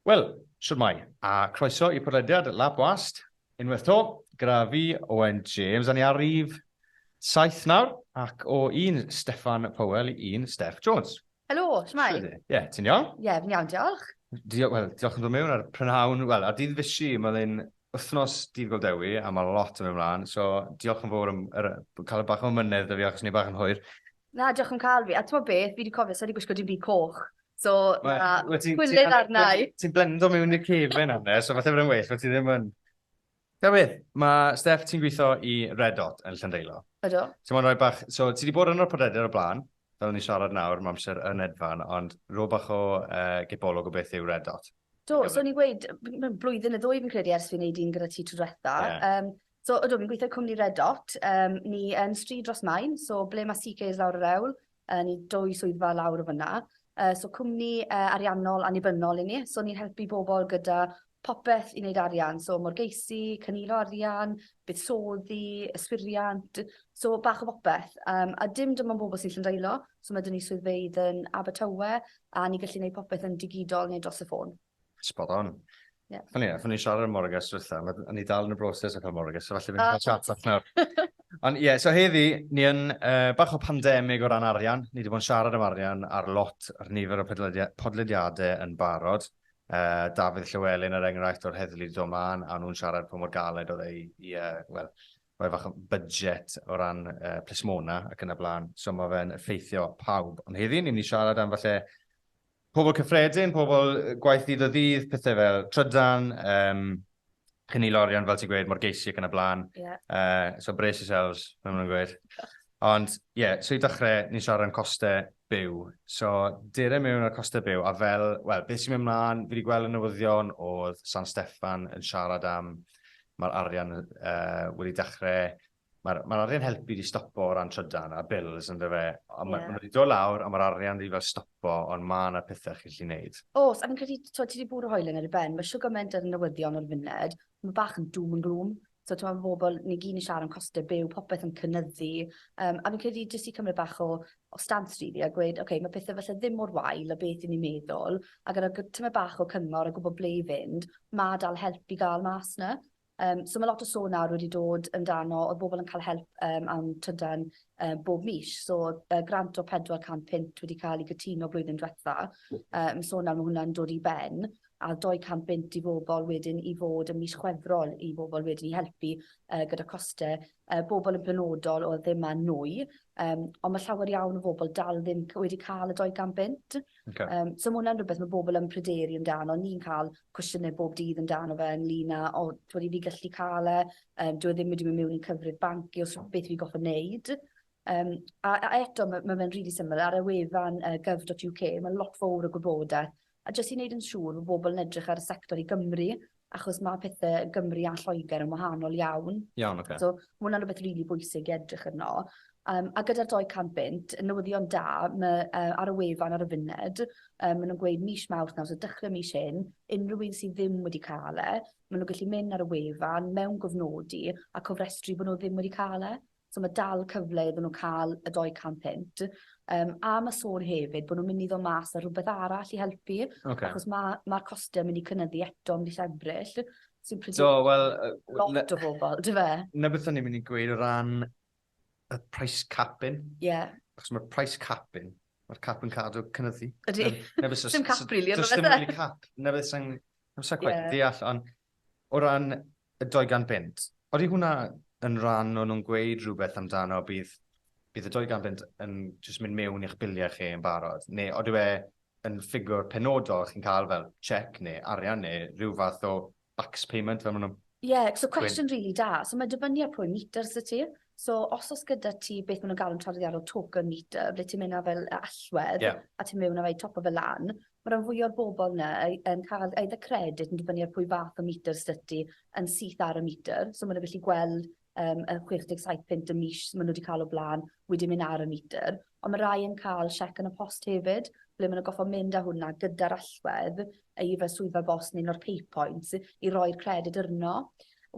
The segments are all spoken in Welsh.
Wel, siwrmai, a croeso i podlediad Lab Wast, unwaith to, gyda fi, Owen James, a ni ar rif saith nawr, ac o un Steffan Powell i un Steff Jones. Helo, shwmae? Shwt wyt ti? Ie, ti'n iawn? Ie, fi'n iawn, diolch. Dio- wel, diolch am ddod mewn ar y prynhawn, wel, ar dydd Fishi, ma' fe'n wythnos Dydd Gŵyl Dewi, a ma' lot yn mynd mlan, so diolch yn fowr am yr yy ca'l bach o amynedd 'da fi achos o'n i bach yn hwyr. Na, diolch am ca'l fi, a t'mod beth, fi 'di cofio, sai 'di gwisgo dim byd coch, so ma' Wel, wyt ti'n ti'n... ...pwll arna i. Ti'n blendo mewn i'r cefen nawr de, so falle bod e'n well bo' ti ddim yn Da wir! Mae Steff, ti'n gweithio i Red Dot yn Llandeilo. Ydw. Ti mo'n rhoi bach... So, ti wedi bod yn yr podlediad o blaen, fel ni'n siarad nawr, mae amser yn edfan, ond rho bach o uh, gipolwg o beth yw Red Dot. Do, so ni'n gweud, blwyddyn y ddwy fi'n credu ers fi'n neud un gyda ti tro diwetha. Yeah. Um, so, ydw, fi'n gweithio cwmni Red Dot. Um, ni yn stryd dros main, so ble mae CK is lawr yr ewl, Yy ni dwy swyddfa lawr fynna. Yy so cwmni yy ariannol annibynnol i ni so ni'n helpu bobol gyda popeth i neud arian so morgeisi, cynilo arian, buddsoddi, yswiriant so bach o bopeth yym a dim dim on' bobol sy isie ymddeolo so ma' 'dyn ni swyddfeydd yn Abertawe a ni gallu neud popeth yn digidol neu dros y ffôn. Spot on. Ie. Funny enough, o'n i'n siarad am Morgan tro dwytha, ma- o'n i dal yn y broses o cael Morgan, so falle fi'n Ah, cael chat off nawr. Ond ie, so heddi, ni yn uh, bach o pandemig o ran arian. Ni wedi bod yn siarad am arian ar lot ar nifer o podledia- podlediadau yn barod. Uh, Dafydd Llywelyn er enghraifft o'r heddlu wedi dod mân, a nhw'n siarad pa mor galed oedd ei, i, uh, wel, rhoi fach o budget o ran uh, plismona ac yn y blaen. So mae fe'n effeithio pawb. Ond heddi, ni'n mynd i siarad am falle Pobl cyffredin, pobl gwaith ddydd o ddydd, pethau fel trydan, um, chynnu lorion, fel ti'n gweud, mor geisio ac yn y blaen. Yeah. Uh, so brace yourselves, fel maen gweud. Ond, ie, yeah, so i dechrau, ni'n siarad am costau byw. So, dere mewn ar costau byw, a fel, wel, beth sy'n mynd mlaen, fi wedi gweld y newyddion oedd San Steffan yn siarad am mae'r arian uh, wedi dechrau Mae'r, mae'r arian helpu di stopo o ran trydan a bills yn dyfe. Ond yeah. mae wedi dod lawr a mae'r arian di fel stopo ond mae yna pethau chi'n lli wneud. Os, a fi'n credu, ti wedi bwrw hoelen ar y ben, mae siwgr mynd ar y newyddion o'r funud, mae bach yn doom and gloom. So, ti'n meddwl bobl, ni gyn i siarad am costau byw, popeth yn cynnyddu. Um, a fi'n credu jyst i cymryd bach o, o stans rili really, a gweud, oce, okay, mae pethau felly ddim mor wael o beth i ni meddwl, a gyda tyma bach o cyngor a gwybod ble i fynd, mae dal help i gael mas na. Yym so ma' lot o sôn nawr wedi dod amdano o'dd bobol yn ca'l help yym am trydan yym bob mis so o'dd yy grant o pedwar can punt wedi ca'l 'i gytuno blwyddyn dwetha yym so nawr ma' hwnna'n dod i ben a o'dd dou can bunt i bobol wedyn i fod ym mis Chwefror i bobol wedyn i helpu yy gyda coste y bobl yn benodol oedd ddim yn nwy, um, ond mae llawer iawn o bobl dal ddim wedi cael y 200 bunt. Okay. Um, so mae hwnna'n rhywbeth mae bobl yn pryderu amdano. Ni'n cael cwestiynau bob dydd amdano fe ynglyn â, o, dwi'n i fi gallu cael e, um, dwi e ddim wedi mynd mewn i'n cyfrif banc i os beth fi goffa wneud. Um, a, a eto, mae, mae fe'n rili really syml. Ar y wefan uh, gov.uk, mae lot fawr o gwybodaeth A jyst i wneud yn siŵr fod pobl yn edrych ar y sector i Gymru, achos mae pethe yn Gymru a Lloegr yn wahanol iawn. Iawn, ocê. So, ma' hwnna'n rwbeth rili bwysig i edrych arno. Yym, a gyda'r dou can bunt, y newyddion da, ma' yy ar y wefan ar y funud, yy ma' nw'n gweud mis Mawrth nawr, so dechre mis hyn, unryw un sy ddim wedi ca'l e, ma' nw gallu myn' ar y wefan, mewngofnodi, a cofrestru bo' nw ddim wedi ca'l e. So ma' dal cyfle iddyn n'w ca'l y dou can punt yym a ma' sôn hefyd bo' nw'n myn' i ddo' mas â rwbeth arall i helpu. Oce. Achos ma' ma'r coste'n myn' i cynyddu eto mis Ebrill sy'n pryd- Do wel yy w- na... Lot o bobol on'd yfe? 'Na beth o'n i myn' i gweud o ran y price capping. Ie. Achos ma'r price capping ma'r cap yn cadw cynyddu. Ydi. Yym 'na be' so... Sdim cap rili on'd yfe? Do's dim rili cap 'na beth sai'n... Ie. ...'im sai cweit yn deall on' O ran y 200 bunt, odi hwnna yn ran o nhw'n gweud rhywbeth amdano, bydd y 200 bunt yn jyst mynd mewn i'ch biliau chi yn barod, neu odyw e yn ffigwr penodol chi'n cael fel cheque neu arian neu rhyw fath o bax payment fel ma' nhw'n gweud? Ie, so cwestiwn rili da. So mae'n dibynnu ar pwy metr sy' ti. So os o's gyda ti beth ma' nw'n galw'n traddodiadol token meter ble ti'n myn' â fel yy allwedd... Ie. ...a ti miwn a roi topo fe lan ma' ran fwya o'r bobol 'na yy yn ca'l either credyd yn dibynnu ar pwy fath o meter sy 'dy ti yn syth ar y meter so ma' n'w gellu gweld yym y chwech deg saith punt y mis ma' n'w 'di ca'l o bla'n wedi myn' ar y meter Ond mae rhai yn cael siec yn y post hefyd, ble maen nhw'n gorfod mynd â hwnna gyda'r allwedd i fel swyddfa bost neu un o'r pay points i roi'r credyd arno.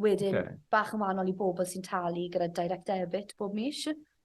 Wedyn, okay. bach yn wahanol i bobl sy'n talu gyda direct debit bob mis,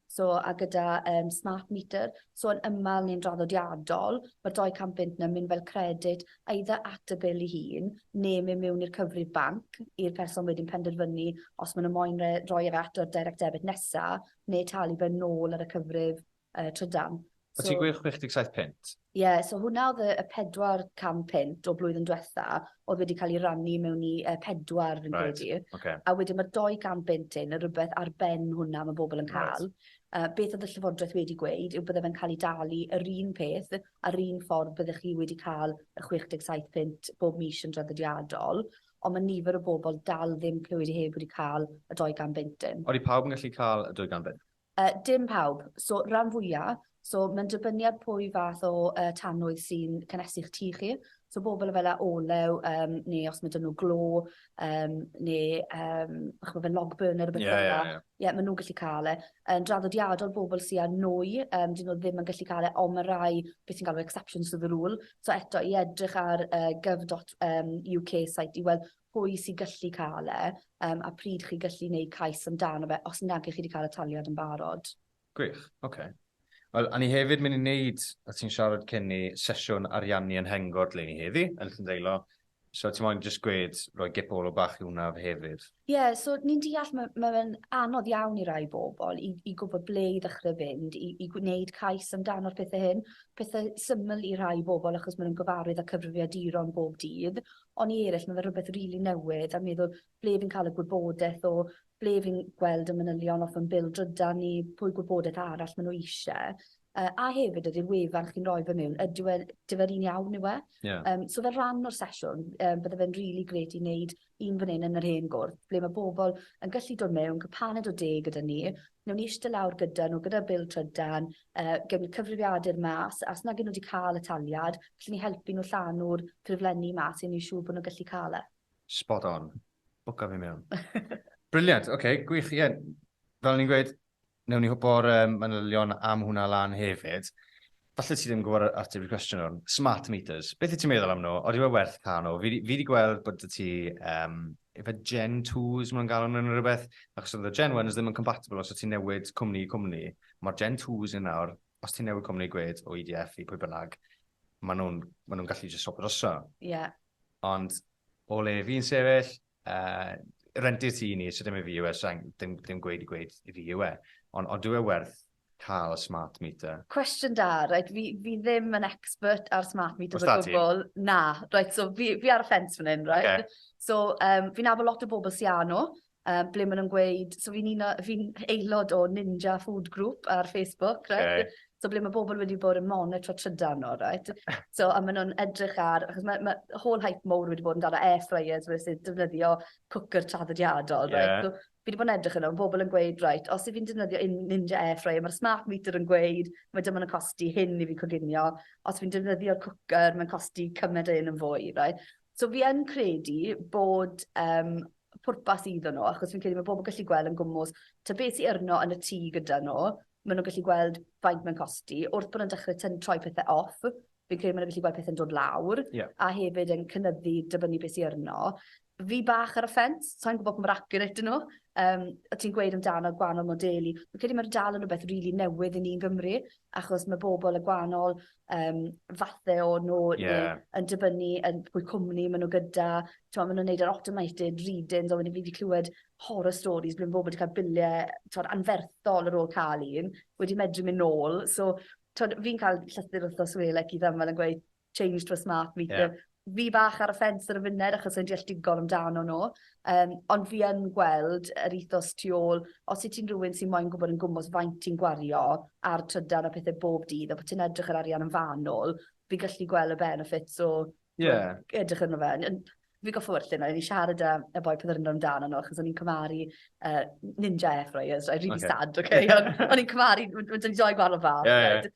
so, a gyda um, smart meter. So yn ymal neu'n draddodiadol, mae'r 200 bunt yna'n mynd fel credyd eitha at y bil i hun, neu mynd mewn i'r cyfrif banc i'r person wedyn penderfynu os maen nhw moyn roi e at o'r direct debit nesaf, neu talu fe nôl ar y cyfrif yy trydan. So... O ti'n gweud 67 punt? Ie, yeah, so hwnna oedd y 400 punt o blwyddyn diwetha, oedd wedi cael ei rannu mewn i uh, pedwar fi'n right. credu. Okay. A wedyn mae'r 200 punt hyn yn rhywbeth ar ben hwnna mae bobl yn cael. Right. Uh, beth oedd y llyfodreth wedi gweud yw bydde fe'n cael ei dalu yr un peth a'r un ffordd byddech chi wedi cael y 67 punt bob mis yn draddodiadol. ond mae nifer o bobl dal ddim clywed i heb wedi cael y dou gan bunt dim. Odi pawb yn gallu cael y dwy gan bunt? Yy dim pawb. So ran fwya'. So mae'n dibynnu ar pwy fath o yy tanwydd sy'n cynhesu'ch tŷ chi. So bobl efo le olew yym neu os ma' 'da n'w glo yym neu yym ch'mo' fel log burner a bethe fel 'a. Ie ie ie. Ie ma' nw'n gallu ca'l e. Yn draddodiadol bobl sy â nwy yym 'dyn n'w ddim yn gallu ca'l e on' ma' rai be' ti'n galw exceptions to the rule So eto i edrych ar yy gov dot yym You Kay site i weld pwy sy gyllu ca'l e yym a pryd chi gyllu neud cais amdano fe os nage chi 'di ca'l y taliad yn barod. Gwych, oce. Wel, o'n i hefyd myn' i neud, o' ti'n siarad cyn 'ny, sesiwn ariannu yn Hengor 'dleni heddi, yn Llyn-deilo, So ti moyn jyst gwed roi gip o ôl bach i hwnna hefyd? Ie so ni'n deall ma' ma' fe'n anodd iawn i rai bobol i i gwbo ble i ddechre fynd i i gwneud cais amdano'r pethe hyn. Pethe syml i rhai bobol achos ma' nw'n gyfarwydd â cyfrifiaduron bob dydd on' i eryll ma' fe rwbeth rili newydd a meddwl ble fi'n ca'l y gwybodeth o ble fi'n gweld y manylion off yn bil drydan ni, pwy gwybodaeth arall ma' n'w isie, yy a hefyd ydi'r wefan chi'n roi fe miwn ydyw e, dyw e'r un iawn yw e? Ie. Yym so fel rhan o'r sesiwn yym bydde fe'n rili grêt i neud un fan 'yn yn yr hen gwrt ble ma' bobol yn gallu dod miwn, ca'l paned o de gyda ni, newn ni ishte lawr gyda n'w gyda'r bil trydan, yy gewn ni cyfrifiadur mas a os nag 'yn n'w 'di ca'l y taliad, g'llen ni helpu n'w llanw'r ffurflenni mas i neu' siŵr bo' n'w gallu ca'l e. Spot on. Bwca fi mewn. Briliant, oce, okay, gwych, ie. Yeah. Fel ni'n gweud, newn ni hwpo'r um, manylion am hwnna lan hefyd. Falle ti ddim yn gwybod ateb i'r cwestiwn o'n smart meters. Beth i ti'n meddwl am nhw? Oeddi fe werth cael nhw? Fi wedi gweld bod y ti um, efe Gen 2s maen nhw'n galw nhw'n rhywbeth, achos oedd y Gen 1s ddim yn compatible os o ti'n newid cwmni i cwmni. Mae'r Gen 2s yn nawr, os ti'n newid cwmni gwed o EDF i pwy bynnag, maen nhw'n ma nhw gallu just swap droso. Ie, yeah. Ond o le fi'n sefyll, yy, rentu'r tŷ i ni, so dim i fi yw e, so dim, dim gweud i gweud i fi yw e. Ond ond dyw e werth cael y smart meter? Cwestiwn da, reit, fi fi ddim yn expert ar smart meters o gwbl. Na, reit, so fi fi ar y ffens fan hyn, reit? So yym fi'n nabod lot o bobl sy â nhw, yy ble ma' nw'n gweud so fi'n un o fi'n aelod o Ninja Food Group ar Facebook reit? Oce. So ble ma' bobol wedi bod yn monitro trydan n'w reit? So a ma' nw'n edrych ar achos ma' ma' whole hype mowr wedi bod amdano air fryers where sy defnyddio cwcwr traddodiadol reit? Ie. So fi 'di bod yn edrych arno ma' bobol yn gweud reit os 'yf fi'n defnyddio un Ninja air fryer ma'r smart meter yn gweud ma' dim on' yn costi hyn i fi coginio os fi'n defnyddio'r cwcwr ma'n costi cyment a 'yn yn fwy reit? So fi yn credu bod yym pwrpas iddon n'w achos fi'n credu ma' pobol gallu gweld yn gwmws t'o' be' sy arno yn y tŷ gyda n'w ma' n'w gallu gweld faint ma'n costi wrth bo' nw'n dechre tyn- troi pethe off fi'n credu ma' n'w gallu gweld pethe'n dod lawr. Ie. A hefyd yn cynyddu dibynnu be' sy arno. Fi bach ar y ffens sai'n gwbo pa mor accurate 'yn n'w yym o' ti'n gweud amdano gwanol modelu fi'n credu ma' n'w dal yn rwbeth rili newydd i ni yn Gymru achos mae bobl y gwahanol um, fathe o nhw yeah. yn dibynnu yn pwy cwmni maen nhw gyda. Tewa, maen nhw'n neud yr automated readings, ond wedi fi wedi clywed horror stories blwyddyn bobl wedi cael biliau tewa, anferthol ar ôl cael un, wedi medru mynd nôl. So, fi'n cael llythyr wrthos welec i ddamfel yn gweud, changed fy smart meter. Ie. Fi bach ar y ffens ar y funud achos sai'n deall digon amdano n'w yym ond fi yn gweld yr ethos tu ôl os wyt ti'n rywun sy moyn gwbod yn gwmws faint ti'n gwario ar trydar a pethe bob dydd a bo' ti'n edrych yr arian yn fanwl fi'n gallu gwel' y benefits o... Ie. ...t'wo' edrych arno fe yn yn fi goffod werthin o o'n i siarad â y boi pryd o'n i'n meddwl amdano n'w achos o'n i'n cymharu yy Ninja airfryers I really sad oce on' o'n i'n cymharu we- we- 'dy ni dou gwahanol fath... Ie ie.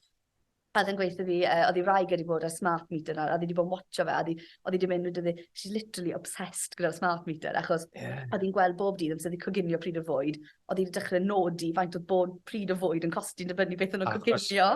O'dd e'n gweu' 'tho fi yy o'dd 'i wraig wedi bod ar smart meter nawr a o'dd 'i 'di bo' yn watcho fe a o'dd 'i o'dd 'i 'di mynd wed- she's literally obsessed gyda'r smart meter achos... Ie. ...o'dd 'i'n gweld bob dydd amser 'di coginio pryd o fwyd o'dd 'i 'di dechre nodi faint o'dd bob pryd o fwyd yn costi yn dibynnu beth o' nw'n coginio.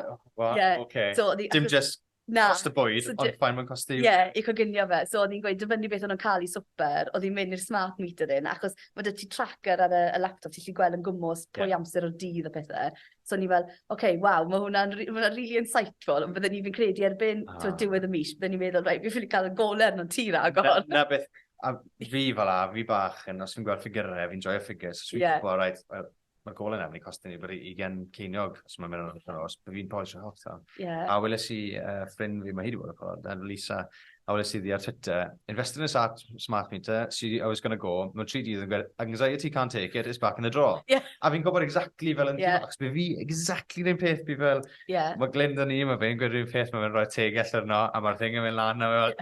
Wa- Ie. Oce. So o'dd 'i... Dim jyst... Na. ...cost y bwyd ond faint ma'n costi... Ie i coginio fe so o'dd 'i'n gweud dibynnu beth o' nw'n ca'l i swper o'dd 'i'n myn' i'r smart meter 'yn achos ma' 'dy ti tracker ar y y laptop ti 'llu gwel yn gwmws... Ie. ...pwy amser o'r dydd a pethe. So o'n i fel oce waw ma' hwnna'n ri- ma' wnna rili insightful on' bydden i fi'n credu erbyn... A. ...t'wod diwedd y mis bydden i'n meddwl reit fi ffili ca'l y gole arnot ti ragor. 'Na 'na beth a fi fel 'a fi bach yn os fi'n gweld ffigyre fi'n joio ffigyrys so fi'n... Ie. ...gwbo reit wel ma'r gole 'na myn' i costi ni byti ugen ceiniog os ma' mewn nos so fi'n polisio holl t'el. Ie. A weles i yy ffrind fi ma' hi 'di bod ar y pod yy Lisa a weles iddi ar Twitter, invested in a sat, smart meter, see how it's gonna go, mewn tri dydd yn gweld, anxiety can't take it, it's back in a drawer. Yeah. A fi'n gwybod exactly fel yn yeah. achos fi exactly rhywun peth, fi fel, yeah. mae Glyn dyn ni, mae fe'n gwneud rhywun peth, mae fe'n rhoi teg allan yno, a mae'r thing yn mynd lan, a fel,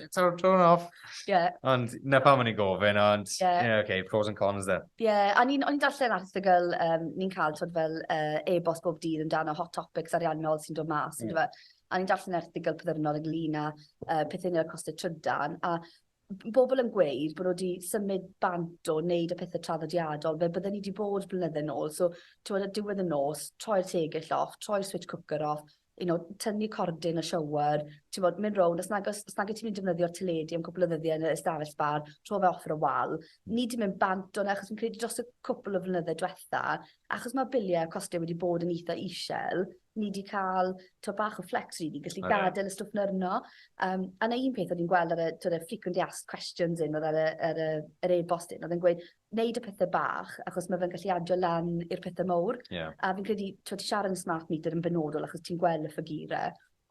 it's our turn off. Yeah. Ond na pam o'n i'n gofyn, ond, yeah. yeah, okay, pros and cons then. Yeah, a ni'n ni darllen erthigol, um, ni'n cael tod fel uh, e-bost bob dydd amdano hot topics ariannol sy'n dod mas, mm. a o'n i'n darllen erthygl pyddyrnol ynglŷn â yy pethe i neu' â costau trydan a b- bobol yn gweud bo' n'w 'di symud bant o neud y pethe traddodiadol fel bydden ni 'di bod blynydde nôl so t'mod ar diwedd y nos troi'r tegell off troi'r switch cwcar off you know tynnu cordyn y shower t'mod myn' rownd os nag os os nag wyt ti'n myn' i defnyddio'r teledu am cwpwl o ddyddie yn y ystafell sbâr rho fe off ar y wal. Ni 'di mynd bant o 'na achos fi'n credu dros y cwpwl o flynydde dwetha achos ma' bilie costio wedi bod yn itha ishel ni 'di ca'l t'o' bach o flex rili gallu gadel y stwff 'na arno yym a 'na un peth o'n i'n gweld ar y t'od y frequently asked questions 'yn o'dd ar y yr yy yr e-bost 'yn o'dd e'n gweud neud y pethe bach achos ma' fe'n gallu adio lan i'r pethe mowr. Ie. A fi'n credu t'wod ti siarad am y smart meter yn benodol achos ti'n gwel' y ffigure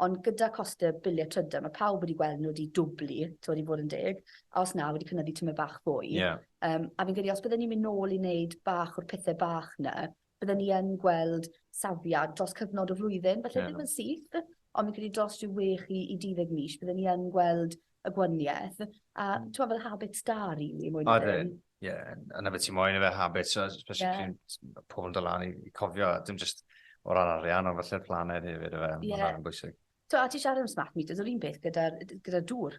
ond gyda cost y bilie trydan ma' pawb wedi gweld n'w 'di dwbli t'od i fod yn deg a os na wedi cynyddu tymed bach fwy. Ie. Yym a fi'n credu os bydden ni'n myn' nôl i neud bach o'r pethe bach 'na bydden ni yn gweld safiad dros cyfnod o flwyddyn, falle ddim yn syth, ond fi'n credu dros ryw wech i i duddeg mis bydden ni yn gweld y gwanieth. A hmm. t'mo' fel habits da rili mwy na dim. Odi. Ie, yeah, a 'na beth ti'n moyn efe, habits, so, especially yeah. pryd ma' pobl yn dod lan i i cofio, dim just o ran arian, ond falle'r planed hefyd efe, ma' Ie. hwnna'n bwysig. So, a ti siarad am smart meters, yr un peth gyda'r gyda dŵr.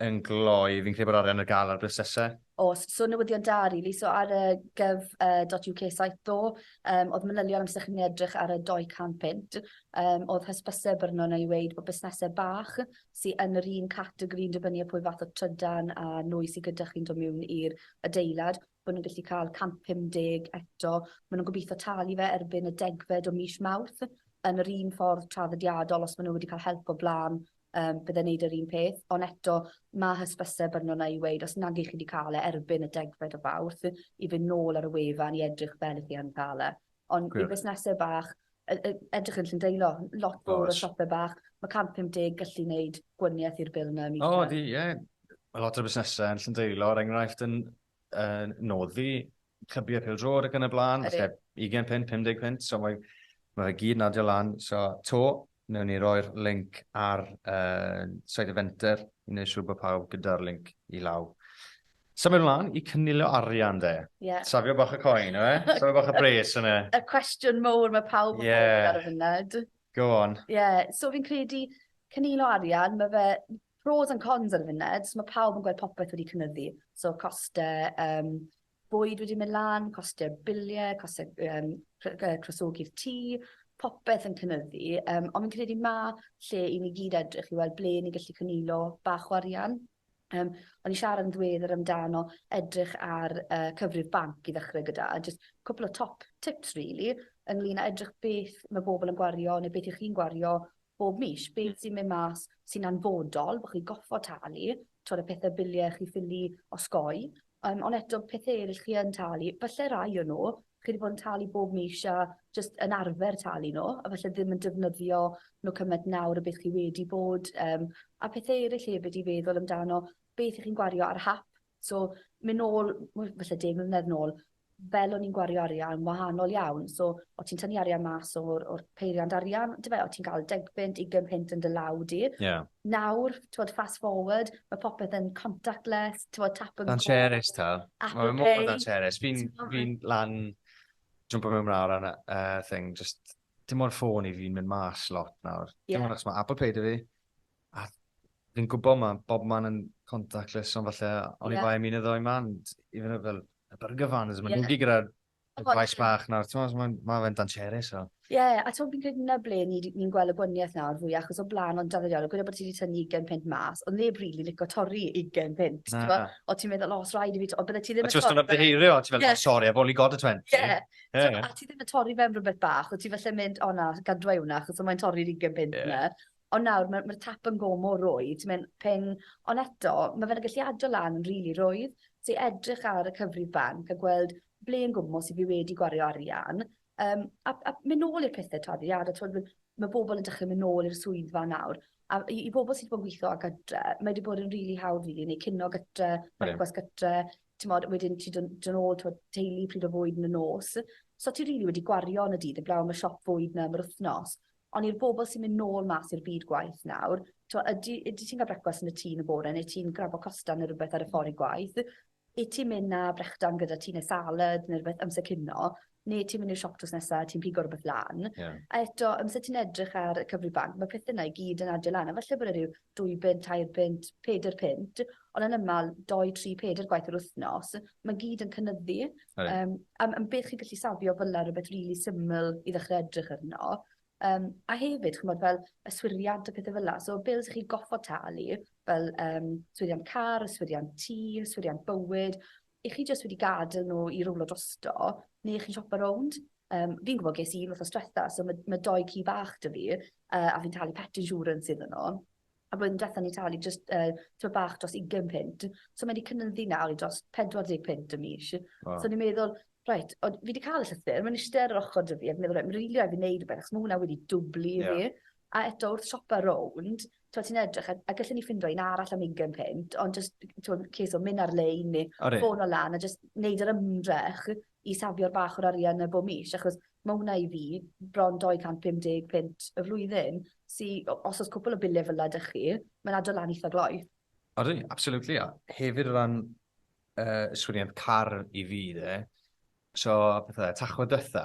yn gloi, fi'n credu bod arian ar gael ar busnesau. Os, so newyddion da rili, so ar y gov.uk uh, site ddo, um, oedd manylion amser chi'n edrych ar y 200 pint, um, oedd hysbysau byrno neu weid bod busnesau bach sy'n yn yr un categori yn dibynnu pwy fath o trydan a nwy sy'n gyda chi'n dod mewn i'r adeilad, bod nhw'n gallu cael 150 eto, maen nhw'n gobeithio talu fe erbyn y degfed o mis Mawrth, yn yr un ffordd traddodiadol os maen nhw wedi cael help o blaen yym bydde'n neud yr un peth on' eto ma' hysbyse bynno 'na i weud os nag 'ych chi 'di ca'l e erbyn y degfed o Fawrth i fyn' nôl ar y wefan i edrych fel 'ych chi yn ca'l e. On' i fusnese bach yy yy edrych yn Llundaelo lot fowr o siope bach ma' 150 gallu neud gwanieth i'r bil 'na yn . O ydi ie. Ma' lot o fusnese yn Llundaelo er enghraifft yn uh, noddi clybiau pil drod ac yn y blaen, os neb 20 pint, 50 pint, so mae, mae fe gyd yn adio lan. So, to, newn ni roi'r link ar uh, site y fenter i wneud siŵr bod pawb gyda'r link i law. So mae'n mlaen i cynilio arian de. Yeah. Safio bach y coen, e? Safio bach y bres yna. Y cwestiwn mowr mae pawb yn yeah. ar y funud. Go on. Ie, yeah. so fi'n credu cynilo arian, mae fe Pros and cons ar y funed, so ma' pawb yn gweld popeth wedi cynyddu, so coste yym bwyd wedi myn' lan, coste bilie, coste yym cro- yy crosogi'r tŷ, popeth yn cynyddu yym on' fi'n credu ma' lle i ni gyd edrych i weld ble ni'n gallu cynilo bach o arian. Yym o'n i siarad yn ddiweddar amdano edrych ar yy cyfrif banc i ddechre gyda a jyst cwpwl o top tips rili ynglŷn â edrych beth ma' bobol yn gwario ne' beth 'ych chi'n gwario bob mis be' sy'n myn' mas sy'n anfodol bo' chi goffod talu t'wod y pethe bilie chi ffili osgoi yym on' eto pethe eryll chi yn talu falle rai o n'w chi 'di bod yn talu bob mis a jyst yn arfer talu n'w a falle ddim yn defnyddio n'w cymaint nawr a beth chi wedi bod yym a pethe eryll hefyd i feddwl amdano beth 'ych chi'n gwario ar hap So, myn nôl, wel, falle deg mlynedd nôl, fel o'n i'n gwario arian, wahanol iawn. So, o' ti'n tynnu arian mas o'r, or peiriant arian, dy fe, o' ti'n cael deg punt, ugain punt yn dy law di. Yeah. Nawr, t'wod, fast forward, mae popeth yn contactless, t'wod, tap and go. Na'n cheris ta. Apple Pay. Mae mor na'n cheris. Fi'n fi lan, jump o mewn mlaen ar yna, uh, thing, just, dim ond ffôn i fi'n mynd mas lot nawr. Yeah. Dim ond achos mae Apple Pay dy fi, A fi'n gwybod mae bob man yn contactless, ond falle oni yeah. bai am un o ddoi man, even fel y burger vans, mae'n yeah. nhw'n gyda'r gwaith bach nawr, ti'n meddwl, mae ma fe'n dancherus. So. Ie, yeah, a ti'n fi'n credu na ble ni'n ni, ni gweld y gwaniaeth nawr fwy, achos o blaen o'n daddiol, gwneud bod ti wedi tynnu 20 pint mas, ond neb rili really licio torri 20 pint, ti'n meddwl, o ti'n meddwl, os rhaid i fi, ond bydde ti ddim yn torri. A ti'n meddwl, beheirio, ti'n meddwl, yeah. sorry, I've only got a 20. Ie, yeah. yeah. so, a ti ddim yn torri fe'n rhywbeth bach, o ti falle mynd, o na, gadwa i hwnna, achos mae'n torri'r 20 pint yeah. na. Ond nawr ma' ma'r tap yn go' mor rwydd ti myn' ping on' eto ma' fe'n eglliado lan yn rili rwydd. Ti edrych ar y cyfrif banc a gweld ble yn gwmws 'yf fi wedi gwario arian yym a a myn' nôl i'r pethe tarddiada t'wod wi ma' bobol yn dechre myn' nôl i'r swyddfa nawr a i i bobol sy 'di bo' yn gwitho o gytre mae 'di bod yn rili hawdd rili neu cino gytre brecwast gytre t'mod wedyn ti do' n- do' nôl t'wod teulu pryd o fwyd yn y nos. So ti rili wedi gwario yn y dydd 'eblaw am y siop fwyd 'na am yr wthnos. Ond i'r bobl sy'n mynd nôl mas i'r byd gwaith nawr, t'mo' ydi ydi ti'n ga'l brecwast yn y tŷ yn y bore neu ti'n grabo costa ne' rwbeth ar y ffor i gwaith? Yt ti'n myn' â brechdan gyda ti ne' salad ne' rwbeth amser cino ne' ti'n myn' i'r siop drws nesa a ti'n pigo rwbeth lan? Ie. A eto amser ti'n edrych ar y cyfrif banc ma' pethe 'na i gyd yn adio lan a falle bod e ryw dwy bunt, tair bunt, pedair punt, ond yn ymal, doi, tri, pedair gwaith yr wythnos. Mae gyd yn cynyddu. Right. Um, am, am beth chi'n gallu safio fyla rhywbeth rili really syml i ddechrau edrych arno. Um, a hefyd, chi'n bod, fel yswiriant a pethau fel la. So, bils chi goffo talu, fel um, swiriant car, yswiriant tî, yswiriant bywyd, 'ych chi jyst wedi gadel n'w i rowlo drosto ne' 'ych chi'n siopa rownd? Yym fi'n gwbo ges i un wthnos dwetha so ma' ma' dou ci bach 'dy fi yy a fi'n talu pet insurance iddyn n'w. A blwyddyn dwetha o'n i'n talu jyst yy tipyn bach dros ugen punt so mae 'di cynyddu nawr i dros pedwar deg punt y mis. Waw. So o'n i'n meddwl reit o- fi 'di ca'l y llythyr ma'n ishte ar yr ochor 'dy fi a fi'n meddwl reit ma' rili raid fi neud rwbeth achos ma' wnna wedi dwbli i fi. Ie. A eto wrth siopa rownd t'mod ti'n edrych a a gallen ni ffindo un arall am ugen punt ond jyst t'mod cês o myn' ar-lein ne'... Odi. ...ffono lan a jyst neud yr ymdrech i safio'r bach o'r arian 'na bob mis achos ma' wnna i fi bron dou cant pum deg punt y flwyddyn sy o- os o's cwpwl o bille fel 'a 'dych chi ma'n addo lan itha gloi. Odi absolutely a hefyd o ran yy yswiriant car i fi 'de so pethe Tachwedd dwetha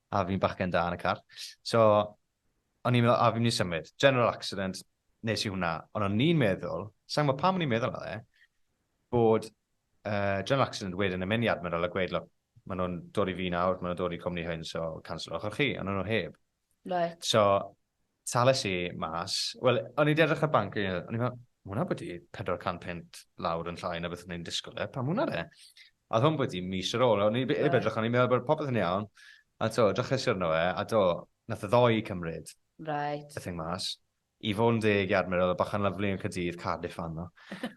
a fi'n bachgen da yn y car. So, o'n i'n meddwl, a fi'n mynd i symud. General accident, nes i hwnna. Ond o'n i'n meddwl, sa'n gwybod pam o'n i'n meddwl e, bod uh, general accident wedyn yn mynd i admiral a gweud, look, maen nhw'n dod i fi nawr, maen nhw'n dod i cwmni hyn, so cancelwch o'ch chi, ond nhw'n heb. Right. So, Tales i mas, wel, o'n i wedi edrych ar banc i, o'n i fel, ma hwnna bod i 400 punt lawr yn llai na beth o'n i'n disgwyl e, pam hwnna de? A oedd hwn bod i mis ar ôl, o'n i wedi edrych, o'n i'n meddwl bod popeth yn iawn, a to, drychus arno e, a do, nath y ddoi cymryd right. y thing mas. I fod yn deg i Admir, oedd y bachan lyflu yn Cadydd, Cardiff fan nhw.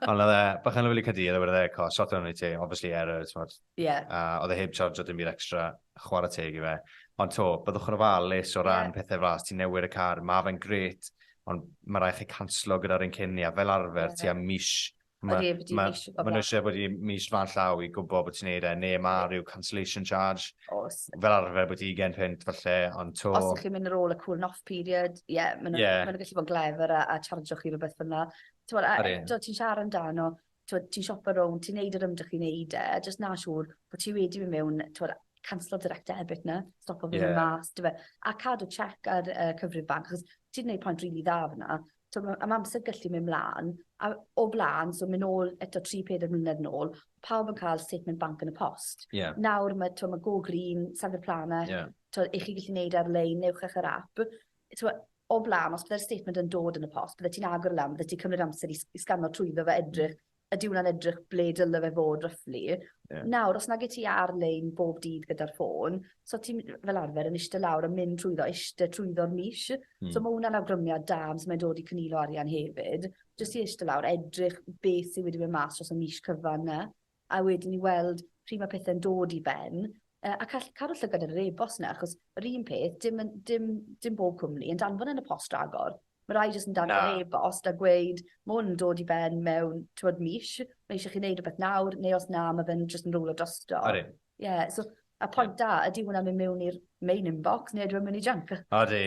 Ond oedd e, bachan lyflu Cadydd, a wedi e, co, sort o'n i ti, obviously error, ti'n Yeah. A oedd e heb charge o dim byd extra, chwarae teg i fe. Ond to, byddwch yn ofalus o ran yeah. pethau flas, ti'n newid y car, mae fe'n gret, ond mae rai chi canslo gyda'r un cyn ni, a fel arfer, yeah. ti am mis Mae nhw eisiau bod i mis fan llaw i gwybod bod ti'n neud e, neu mae rhyw cancellation charge. Os. Fel arfer bod i gen pint falle, ond to... Os ydych chi'n mynd ar ôl y cooling off period, ie, yeah, maen nhw'n yeah. gallu bod yn glefer a, a charge o'ch chi rhywbeth fyna. Ti'n bod, a eto ti'n siarad amdano, t'wod ti'n siopa rownd ti'n neud yr ymdrech i neud e jyst na' siŵr bo' ti wedi myn' mewn t'wod canslo direct debit 'na stopo fyn 'yn mas 'dy fe. A cadw check ar yy cyfrif banc achos ti 'di neud pont rili dda fan 'na. T'o' ma' a ma' amser gallu myn' mlan a o bla'n so myn' nôl eto tri peder mlynedd nôl pawb yn ca'l statement bank yn y post. Ie. Nawr ma' t'o' ma' Go Green Sangha Planet... Ie. ...t'o' 'ych chi gallu neud e ar-lein newch e ar yr ap t'mo' o bla'n os bydde'r statement yn dod yn y post byddet ti'n agor e lan byddet ti'n cymryd amser i s- i sgano trwyddo fe edrych ydi wnna'n edrych ble dyle fe fod roughly. Ie. Nawr os nage ti ar-lein bob dydd gyda'r ffôn so ti'n m- fel arfer yn ishte lawr yn mynd trwyddo ishte trwyddo'r mis. Hmm. So ma' wnna'n awgrymiad da am su' mae'n dod i cynilo arian hefyd. Jyst i ishte lawr edrych beth sy wedi myn' mas dros y mis cyfan 'na. a wedyn i weld pryd mae pethe'n dod i ben, yy a call- cadw llygad ar yr e-bost 'na achos yr un peth dim yn dim dim bob cwmni yn danfon yn y post ragor. Ma' rai jyst yn danfon... Na. ...e-bost a gweud ma' 'wn yn dod i ben mewn t'mod mis ma' isie chi neud rwbeth nawr neu os na ma' fe'n jyst yn rowlo drosto. Odi. Ie so y pwynt da ydi hwnna myn' mewn i'r main inbox ne' ydyw e'n myn' i junk? Odi.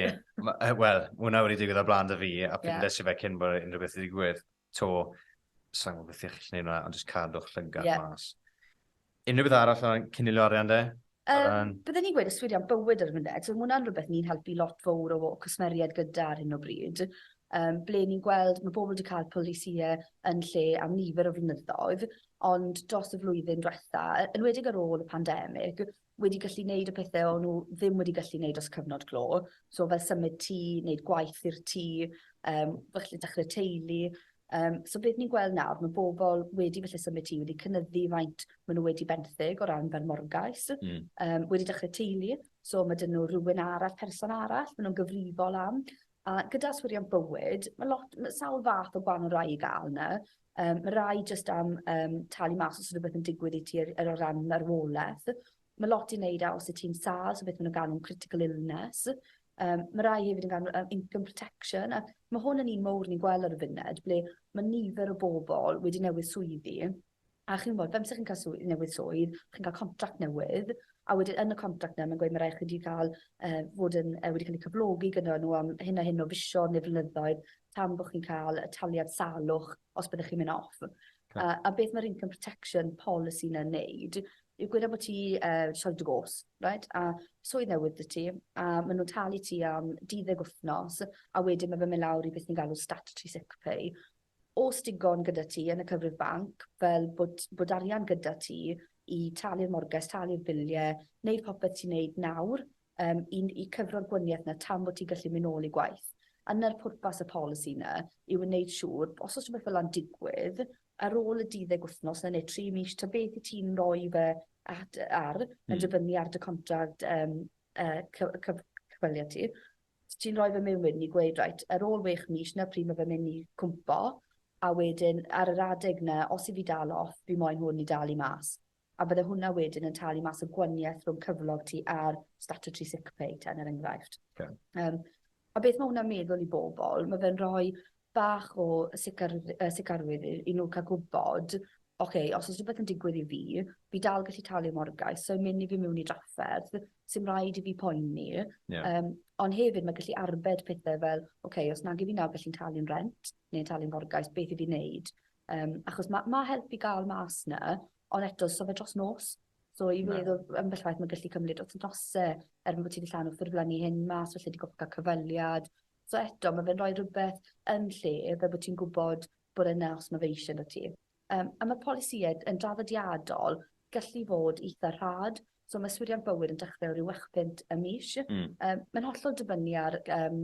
Ma' yy wel ma' wnna wedi digwydd ar bla'n 'da fi a... Ie. ...pryd nes i fe cyn bo' unryw beth 'di digwydd. 'to, sai'n gwybod beth i chi'n neud hwnna, ond jyst cadw'ch llygad yeah. mas. Unrhyw beth arall o'n cynilio arian de? Um, Byddwn ni'n gweud yswiriant bywyd ar y funud, so mae hwnna'n rhywbeth ni'n helpu lot fawr o cwsmeriaid gyda ar hyn o bryd um, ble ni'n gweld mae pobl wedi cael polisiau yn lle am nifer o flynyddoedd, ond dros y flwyddyn diwetha, yn wedig ar ôl y pandemig, wedi gallu neud y pethe o'n n'w ddim wedi gallu neud dros cyfnod clo. So fel symud tŷ, neud gwaith i'r tŷ, yym falle dechre teulu. Um, so beth ni'n gweld nawr, mae bobl wedi felly symud tŷ, wedi cynyddu faint maen nhw wedi benthyg o ran fel morgais, mm. um, wedi dechrau teulu, so mae dyn nhw rhywun arall, person arall, maen nhw'n gyfrifol am. A gyda yswiriant bywyd, ma' lot ma' sawl fath o gwanol rai i ga'l 'ny. Yym ma' rai jyst am yym talu mas os o' rwbeth yn digwydd i ti ar yy o ran marwoleth. Ma' lot i neud â os yt ti'n sâl so beth ma' nw'n galw'n critical illness. Yym ma' rai hefyd yn ga'l n'w yy income protection a ma' hwn yn un mowr ni'n gwel' ar y funud ble ma' nifer o bobol wedi newydd swyddi A chi'n gwybod, fel petaech chi'n cael swydd newydd swydd, chi'n cael contract newydd, a wedyn yn y contract 'na mae'n gweud ma' raid chi 'di ca'l yy fod yn yy wedi ca'l 'u cyflogi gynno nw am hyn a hyn o fisoedd neu flynyddoedd tan bo' chi'n ca'l y taliad salwch os byddech chi'n myn' off. Oce. A a beth ma'r income protection policy 'na'n neud yw gwed ambot ti yy sori dwgôs reit a swydd newydd 'dy ti a ma' nw'n talu ti am duddeg wthnos a wedyn ma' fe'n myn' lawr i beth ni'n galw statutory sick pay Oes digon gyda ti yn y cyfrif banc, fel bod bod arian gyda ti i talu'r morges, talu'r bilie, neud popeth ti'n neud nawr yym i i cyfro'r gwanieth 'na tan bo' ti'n gallu myn' nôl i gwaith. A 'na'r pwrpas y polisi 'na yw yn neud siŵr os o's rwbeth fela'n digwydd ar ôl y duddeg wthnos 'na ne' tri mis ta beth wt ti'n roi fe at yy ar yn dibynnu ar dy contract yym yy cy- yy cyf- cyfweliad ti ti'n rhoi fy miwyn ni gweud reit ar ôl wech mis na pryd mae fe mynd i cwmpo a wedyn ar yr adeg na os i fi dal off fi moyn hwn i dalu mas a bydde hwnna wedyn yn talu mas y gwanieth rhwng cyflog ti a'r statutory sick pay ten er enghraifft. Okay. Um, a beth mae hwnna'n meddwl i bobl? Mae fe'n rhoi bach o sicar- yy sicrwydd i i n'w ca'l gwbod oce os o's rwbeth yn digwydd i fi fi dal gallu talu morgais so myn' i fi mewn i drafferth sim raid i fi poeni. Ie. Yym on' hefyd ma' gallu arbed pethe fel oce os nag 'yf fi nawr gallu'n talu'n rent ne' talu'n morgais beth i fi neud? Yym achos ma' ma' help i ga'l mas 'na on' eto so fe dros nos. So i fi o'dd o ambell waith ma'n gallu cymryd wthnose er bo' ti 'di llanw ffurflenni hyn mas falle 'di gorffo ca'l cyfweliad So eto, ma' fe'n roi rhywbeth yn lle fel bo' ti'n gwbod bod e 'na os ma' fe isie arnot ti. Yym a ma'r polisïe yn draddodiadol gallu fod itha rhad, so ma' swyddiant bywyd yn dechre o ryw wech punt y mis. Hmm. Yym mae'n hollol dibynnu ar yym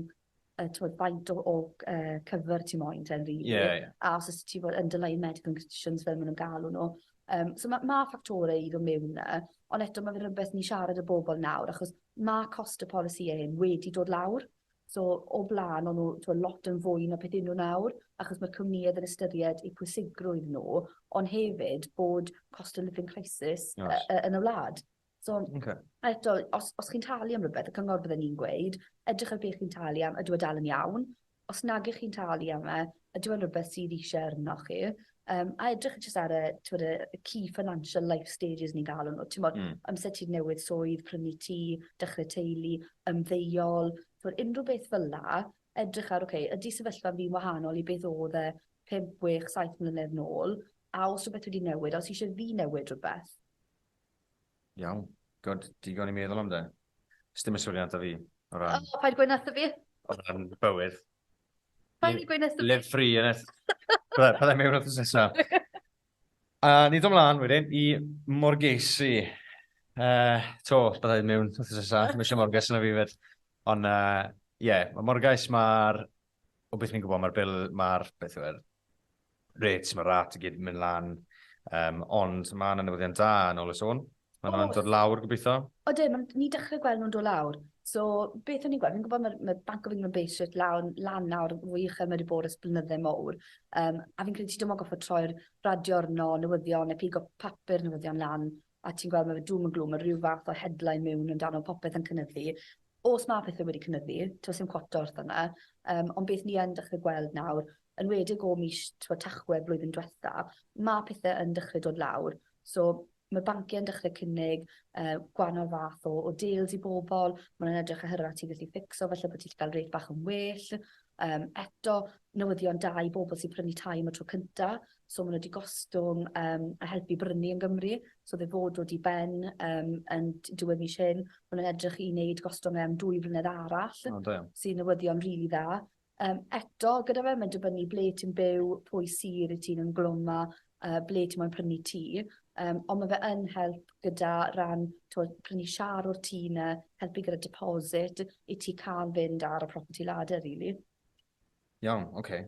yy t'mod faint o o yy cover ti moyn ten rili. Ie ie. A os o's ti fel underlying medical conditions fel ma' nw'n galw n'w. Yym so ma' ma' ffactore i do' mewn 'na on' eto ma' fe'n rwbeth ni'n siarad â bobol nawr achos ma' cost y polisïe hyn wedi dod lawr. So, o blaen, o'n nhw twa, lot yn fwy na beth y'n nhw nawr, achos mae'r cwmnïedd yn ystyried eu pwysigrwydd nhw, ond hefyd bod cost of living crisis y, Oes. y, yn y wlad. So, Okay. a eto, os, os chi'n talu am rhywbeth, y cyngor bydden ni'n gweud, edrych ar beth chi'n talu am, ydw e dal yn iawn? Os nag ych chi'n talu am e, Ydyw e'n rwbeth sydd isie arnoch chi? Yym a edrych jyst ar y t'mod y y key financial life stages ni'n galw n'w t'mod... Hmm. ...amser ti newydd swydd, prynu tŷ, dechre teulu, ymddeuol, t'mod unryw beth fel 'na edrych ar oce ydi sefyllfa fi'n wahanol i beth o'dd e pump wech saith mlynedd nôl a o's rwbeth wedi newid a o's isie fi newid rwbeth. Iawn. God, digon i meddwl am 'de. Sdim y swyrian 'da fi o ran... O paid gweu' 'na 'tho fi. ...o ran bywyd. Paid di gweud nes y... Live free, yn it? Bydde, bydde mewn wrth nesaf. A ni ddod mlaen wedyn i Morgesi. Uh, to, bydde mewn wrth nesaf. Mae eisiau Morges yna fi fed. Ond, ie, uh, yeah, mae Morgais, mae'r... O beth ni'n gwybod, mae'r bil, mae'r... Beth yw'r... Reit, mae rat i gyd yn mynd lan, um, ond mae yna newyddion da yn ôl y sôn. Mae nhw'n dod lawr, gobeithio. O dyn, mae ni dechrau gweld nhw'n dod lawr. So, beth o'n i'n gweld, fi'n gwybod mae'r mae Bank of England Bay Street lawr, lan nawr fwy uchel mae wedi bod ys blynydde mowr. Um, a fi'n credu ti dim ond goffa troi'r radio arno, newyddion, neu pigo papur newyddion lan, a ti'n gweld ma' fe doom and gloom ma' ryw fath o headline miwn amdano popeth yn cynyddu. Os ma' pethe wedi cynyddu, t'mo' sim cwota wrth ynna yym ond beth ni yn dechre gweld nawr enwedig o mis t'mo' Tachwedd blwyddyn dwetha ma' pethe yn dechre dod lawr so ma' bancie yn dechre cynnig yy gwanol fath o o deals i bobol ma' nw'n edrych oherwydd at ti gallu ffitcso falle bo' ti 'llu ga'l rêt bach yn well yym eto newyddion da i bobol sy prynu tai am y tro cynta. so maen nhw wedi gostwng um, a helpu brynu yn Gymru, so fe fod dod i ben um, yn diwedd mis hyn, maen nhw'n edrych i wneud gostwng am dwy flynedd arall, oh, sy'n newyddion rili really dda. Um, eto, gyda fe, mae'n dibynnu ble ti'n byw, pwy syr i ti'n ymglwm â, uh, ble ti'n moyn prynu ti. Um, ond mae fe yn help gyda ran to, prynu siar o'r tŷ na, helpu gyda deposit i ti cael fynd ar y property ladder, really. Iawn, oce.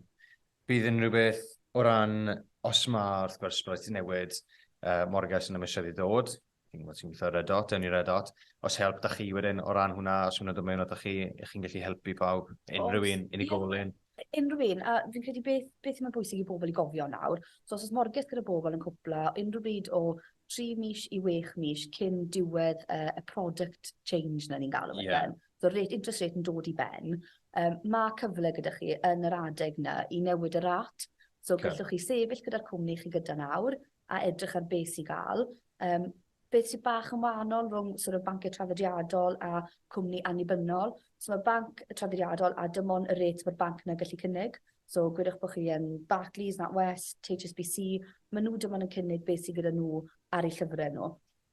Bydd unrhyw beth o ran, os mae, wrth gwrs, bydd ti'n newid uh, morges yn y misoedd i ddod, ti'n gwybod ti'n gweithio Red Dot, ni Red Dot, os help da chi wedyn o ran hwnna, os hwnna dod mewn o da chi, ych chi'n gallu helpu pawb, unrhyw un, unigolyn? Unrhyw un, a fi'n credu beth, beth sy'n bwysig i bobl i gofio nawr, so os oes morges gyda bobl yn cwpla, unrhyw bryd o 3 mis i 6 mis cyn diwedd uh, y product change na ni'n galw yeah. Mae'r rate interest rate yn dod i ben. Um, mae cyfle gyda chi yn yr adeg yna i newid y rat. So okay. gallwch chi sefyll gyda'r cwmni chi gyda nawr a edrych ar beth sy'n gael. Um, beth sy'n bach yn wahanol rhwng sort of banciau trafodiadol a cwmni annibynnol. So mae banc y trafodiadol a dim ond y rate mae'r banc yna gallu cynnig. So gwedwch bod chi yn Barclays, NatWest, HSBC, maen nhw dim ond yn cynnig beth sydd gyda nhw ar eu llyfrau nhw.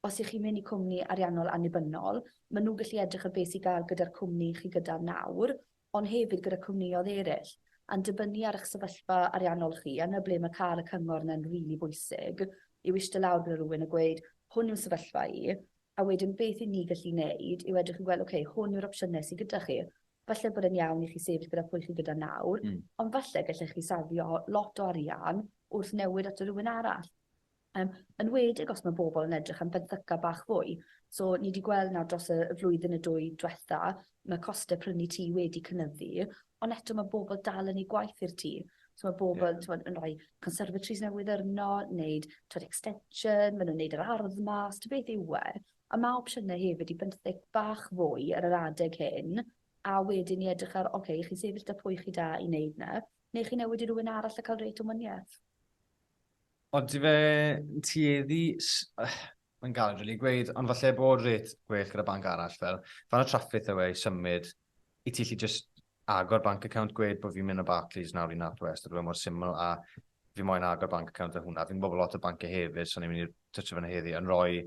Os y'ch chi'n mynd i cwmni ariannol annibynnol, maen nhw'n gallu edrych ar beth sy'n gael gyda'r cwmni chi gyda nawr, ond hefyd gyda cwmnïoedd eraill. A'n dibynnu ar y'ch sefyllfa ariannol chi, a 'na ble mae cael y cyngor yna'n rili bwysig, yw ishte lawr gyda rhywun a gweud, hwn yw sefyllfa i, a wedyn beth y'n ni gallu neud yw edrych i weld ok, hwn yw'r opsiyne sy gyda chi. Falle bod e'n iawn i chi sefyll gyda pwy chi gyda nawr, ond falle gallech chi safio lot o arian wrth newid ato rhywun arall. Yn enwedig os mae bobl yn edrych am fenthyca bach fwy. So ni wedi gweld nawr dros y flwyddyn neu dwy dwetha, mae costau prynu tŷ wedi cynyddu, ond eto mae bobl dal yn eu gwaith i'r tŷ. So mae bobl... Ie. ...t'mod yn rhoi conservatories newydd arno, neud t'mod extension, ma' nw'n neud yr ardd mas, ta beth yw e. A ma' opsiyne hefyd i benthyg bach fwy ar yr adeg hyn, a wedyn i edrych ar oce, chi'n sefyll 'da pwy chi da i neud 'na, neu chi newid i rywun arall a ca'l rêt o wanieth. Odi fe'n tueddu... Mae'n galed rili gweud, ond falle bod rate gwell gyda banc arall fel, fan y traffith yw e i symud i ti allu jyst agor bank account, gweud bod fi'n mynd o Barclays nawr i NatWest, oedd e mor syml a fi moyn agor bank account a hwnna. Fi'n gwybod bod lot o banciau hefyd, so ni'n mynd i twtio fan heddi, yn rhoi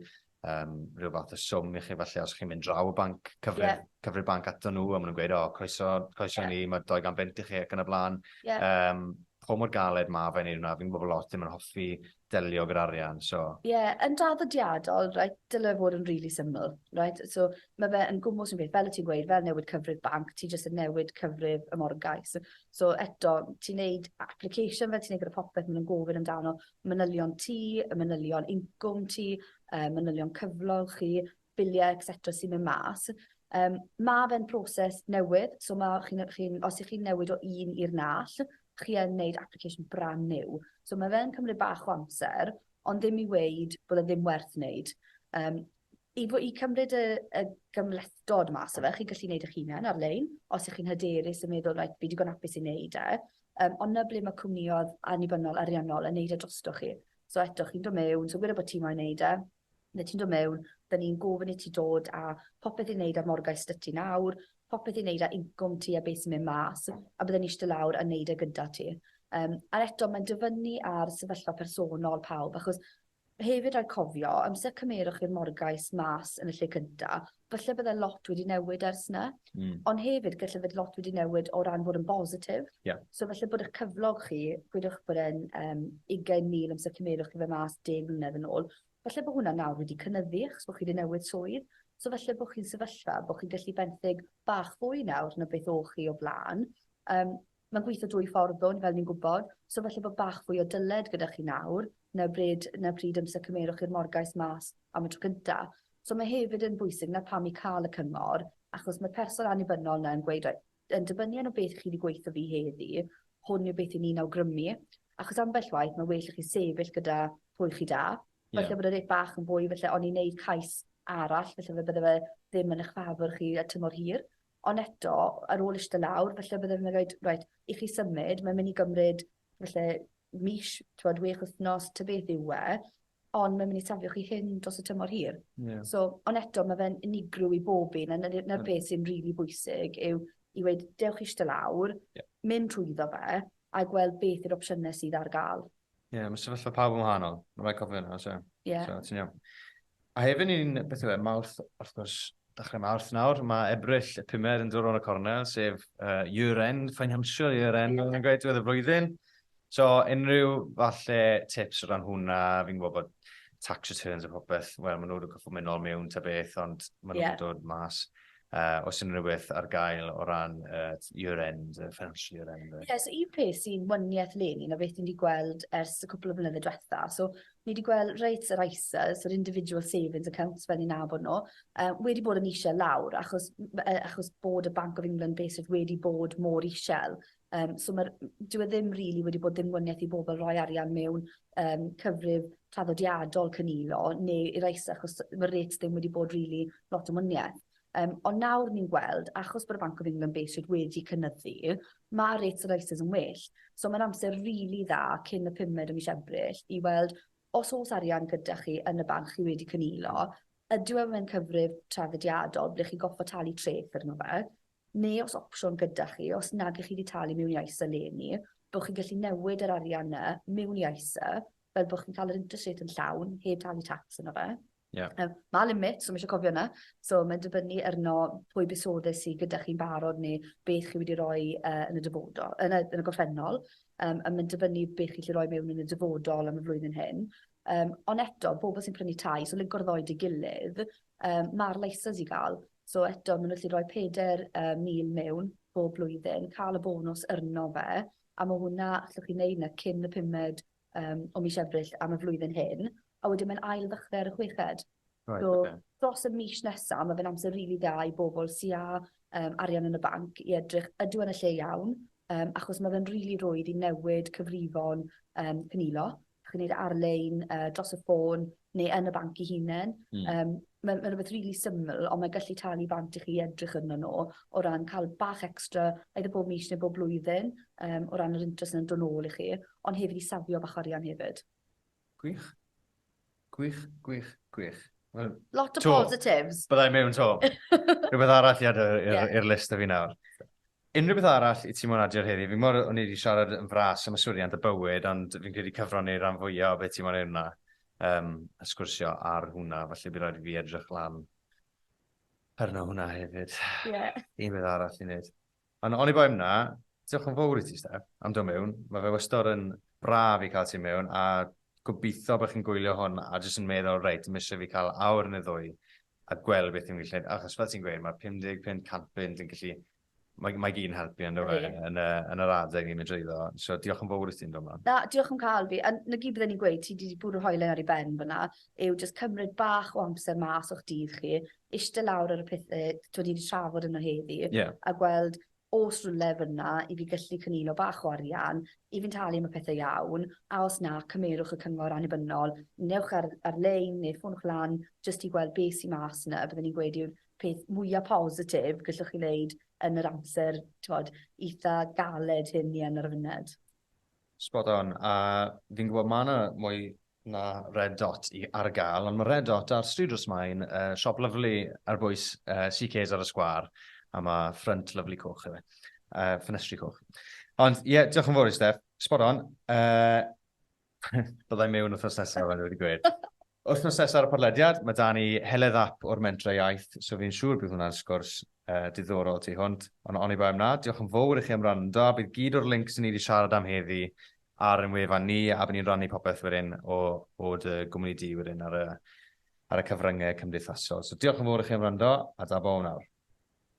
um, rhyw fath o swm i chi falle os chi'n mynd draw y banc, cyfrif, yeah. cyfrif banc ato nhw, a maen nhw'n gweud, o, oh, croeso, croeso yeah. ni, mae 200 bint i chi ac yn y blaen. Yeah. Um, po mor galed mae fe wneud hwnna, fi'n gwybod lot ddim yn hoffi delio gyda'r arian, so... Ie, yeah, yn draddodiadol, right, dylai fod yn really syml, right? So, mae fe yn gwmwys yn beth, fel y ti'n gweud, fel newid cyfrif banc, ti jyst yn newid cyfrif y morgais. So, so eto, ti'n neud application fel ti'n neud gyda popeth, maen nhw'n gofyn amdano, manylion tŷ, y manylion incwm ti, yy manylion cyflog chi, bilie et cetera sy'n myn' mas. Yym ma' fe'n proses newydd so ma' chi'n yy chi'n os 'ych chi'n newid o un i'r nall chi yn neud application brand new. So ma' fe yn cymryd bach o amser ond ddim i weud bod e ddim werth neud. Yym. I fo- i cymryd y y gymhlethdod mas o fe chi'n gallu neud eich hunan ar-lein os 'ych chi'n hyderus yn meddwl reit fi digon apus i neud e yym on' 'na ble ma' cwmniodd annibynnol ariannol yn neud e drostoch chi. So eto chi'n do' mewn so gweda bo' ti moyn neud e ne' ti'n do' mewn 'dyn ni'n gofyn i ti dod â popeth i neud â'r morgais 'dy ti nawr popeth i neud â incwm ti a be' sy'n myn' mas a bydden ni ishte lawr a neud e gyda ti. Yym a eto ma'n dibynnu ar sefyllfa personol pawb achos Hefyd rhaid cofio, amser cymerwch i'r morgais mas yn y lle cynta, falle bydde lot wedi newid ers 'ny. Mm. Ond hefyd galle fod lot wedi newid o ran fod yn bositif. Yeah. So falle bod 'ych cyflog chi, gwedwch bod e'n um, 20,000 amser cymerwch i fe mas 10 mlynedd yn ôl, falle bod hwnna nawr wedi cynyddu achos bod chi wedi newid swydd. So falle bod chi'n sefyllfa bod chi'n gallu benthyg bach fwy nawr na beth o'ch chi o blaen. Um, Mae'n gweithio dwy ffordd ddo, fel ni'n gwybod, so falle bod bach fwy o dyled gyda chi nawr, na bryd, na pryd amser cymerwch chi'r morgais mas am y tro cynta. So mae hefyd yn bwysig 'na pam i cael y cyngor, achos mae'r person annibynnol 'na yn gweud, reit, yn dibynnu arno beth chi 'di gweutho fi heddi, hwn yw beth 'yn ni'n awgrymu, achos ambell waith mae'n well i chi sefyll gyda pwy chi da. Ie. Falle bod y rêt bach yn fwy, falle oni wneud cais arall, falle fe bydde fe ddim yn eich ffafwr chi ar tymor hir. Ond eto, ar ôl ishte lawr, falle bydde fe'n raid, reit, i chi symud, mae'n myn' i gymryd falle mis, t'mod, wech wthnos ta beth yw e, ond mae'n myn' i safio chi hŷn dros y tymor hir. Ie. So, ond eto, ma' fe'n unigryw i bob un a 'na ni- 'na'r peth sy'n rili bwysig yw i weud, dewch ishte lawr... Ie. ...mynd trwyddo fe, a gweld beth yw'r opsiynau sydd ar gael. Ie, yeah, mae sefyllfa pawb yn wahanol. Mae'n rhaid cofio yna, so, yeah. so ti'n iawn. A hefyd ni'n, beth yw e, Mawrth, wrth gwrs, dechrau Mawrth nawr, mae Ebrill y pumed yn dod o'n y cornel, sef uh, year-end, financial year-end, yeah. yn gweud diwedd y flwyddyn. So, unrhyw falle tips o ran hwnna, fi'n gwybod bod tax returns a popeth, wel, maen nhw'n cyffwrdd mynd nôl mewn ta beth, ond maen nhw'n yeah. dod mas. Uh, os unrhyw beth ar gael o ran uh, year-end, uh, financial year-end. Ie, yeah, so un peth sy'n wyniaeth leni na beth ni wedi gweld ers y cwpl o flynydde diwetha. So, ni wedi gweld reit yr ISAs, yr individual savings accounts fel ni'n nabod nhw, uh, wedi bod yn eisiau lawr achos, uh, achos bod y Bank of England basically wedi bod mor eisiau. Yym so ma'r... Dyw e ddim rili wedi bod ddiwmwniaeth i bobl roi arian mewn yym cyfrif traddodiadol cynilo neu i rai sy achos ma'r rates ddim wedi bod rili lot o wmwniaeth. Yym ond nawr ni'n gweld achos bod y Bank of England base rate wedi cynyddu ma' rates yr ISAs yn well. So ma'n amser rili dda cyn y pumed o mis Ebrill i weld os o's arian gyda chi yn y banc chi wedi cynilo ydyw e mewn cyfrif traddodiadol ble chi goffo talu treth arno fe neu os opsiwn gyda chi, os nag 'ych chi 'di talu mewn i ISA 'leni, bo' chi'n gallu newid yr arian 'na mewn i ISA, fel bo' chi'n ca'l yr interest rate yn llawn, heb talu tax arno fe. Ie. Yym, ma' limit, so ma' isie cofio 'na. So mae'n dibynnu arno pwy buddsoddi sy gyda chi'n barod neu beth chi wedi roi yy yn y dyfodol, yn y yn y gorffennol, yym a ma'n dibynnu be' chi 'llu roi mewn yn y dyfodol am y flwyddyn hyn. Yym, ond eto, bobol sy'n prynu tai, so linco'r ddou 'da 'i gilydd, Yym ma'r leisys i ga'l so eto ma' n'w gallu roi peder yy mil mewn bob blwyddyn ca'l y bonws yrno fe a ma' hwnna allwch chi neud 'na cyn y pumed yym o mis Ebrill am y flwyddyn hyn a wedyn mae'n ail ddechre ar y chweched. Reit oce. So dros y mis nesa ma' fe'n amser rili dda i bobol sy â yym arian yn y banc i edrych ydw yn y lle iawn yym achos ma' fe'n rili rwydd i newid cyfrifon yym cynilo Chi'n gwneud e ar-lein, yy dros y ffôn, neu yn y banc i hunen. Mm. Um, mae'n ma rhywbeth rili really syml, ond mae'n gallu talu bant i chi edrych yno nhw o ran cael bach extra, eitha bob mis neu bob blwyddyn, um, o ran yr interest yn dod ôl i chi, ond hefyd i safio bach arian hefyd. Gwych. Gwych, gwych, gwych. Well, Lot o to. positives. Byddai mewn to. Rhywbeth arall i adael i'r yeah. list o fi nawr. Unrhyw beth arall i ti mo'n adio ar heddi? Fi'n gwybod o'n i wedi siarad yn fras am yswiriant y bywyd, ond fi'n credu cyfrannu i'r rhan fwyaf o beth ti mo'n ei wna, um, a sgwrsio ar hwnna, falle bydd rhaid i fi edrych lan arno hwnna hefyd. Yeah. Un beth arall i wneud. Ond oni bai hwnna, diolch yn fawr i ti, Steph, am dod mewn. Mae fe wastad yn braf i cael ti mewn, a gobeithio bod chi'n gwylio hwn a jyst yn meddwl, reit, mis eisiau fi cael awr neu ddwy a gweld beth ni'n gallu gwneud, achos fel ti'n gweud, mae 50, 50, 100 punt yn gallu, mae, mae gyd yn helpu yn dweud, yeah. yn, yn yr adeg ni'n mynd drwyddo. So diolch yn fawr i ti'n dod yma. Na, diolch yn cael fi. A na gyd bydden ni'n gweud, ti wedi bwrw hoelen ar ei ben fyna, yw just cymryd bach o amser mas o'ch dydd chi, eistedd lawr ar y pethau, ti wedi trafod yno heddi, yeah. a gweld o's rywle fynna i fi gyllu cynilo bach o arian i fi'n talu am y pethe iawn, a os na, cymerwch y cyngor annibynnol, newch ar ar lein ne' ffonwch lan jyst i gweld be' sy mas 'na, bydden i'n gweud yw'r peth mwya positif gellwch chi neud yn yr amser t'mod itha galed hyn ni yn ar y funud. Spot on, a fi'n gwybod mae yna mwy na Red Dot i ar gael, ond mae Red Dot ar Stryd Rwsmain, uh, siop lyflu ar bwys uh, CK's ar y sgwar, a mae ffrynt lyflu coch hefyd, uh, ffenestri coch. Ond ie, yeah, diolch yn fawr i Steph, spot on. Uh, Byddai mewn wrthnos nesaf, ond wedi gweud. Wythnos nesaf ar y podlediad, mae 'da ni Heledd Ap o'r Mentrau Iaith, so fi'n siŵr bydd hwnna'n sgwrs diddorol tu hwnt, ond oni bai am 'na, diolch yn fowr i chi am wrando, a bydd gyd o'r links 'yn ni 'di siarad am heddi ar ein wefan ni, a by ni'n rannu popeth wedyn o o dy gwmni di wedyn ar y ar y cyfryngau cymdeithasol. So diolch yn fowr i chi am wrando, a da bo am nawr.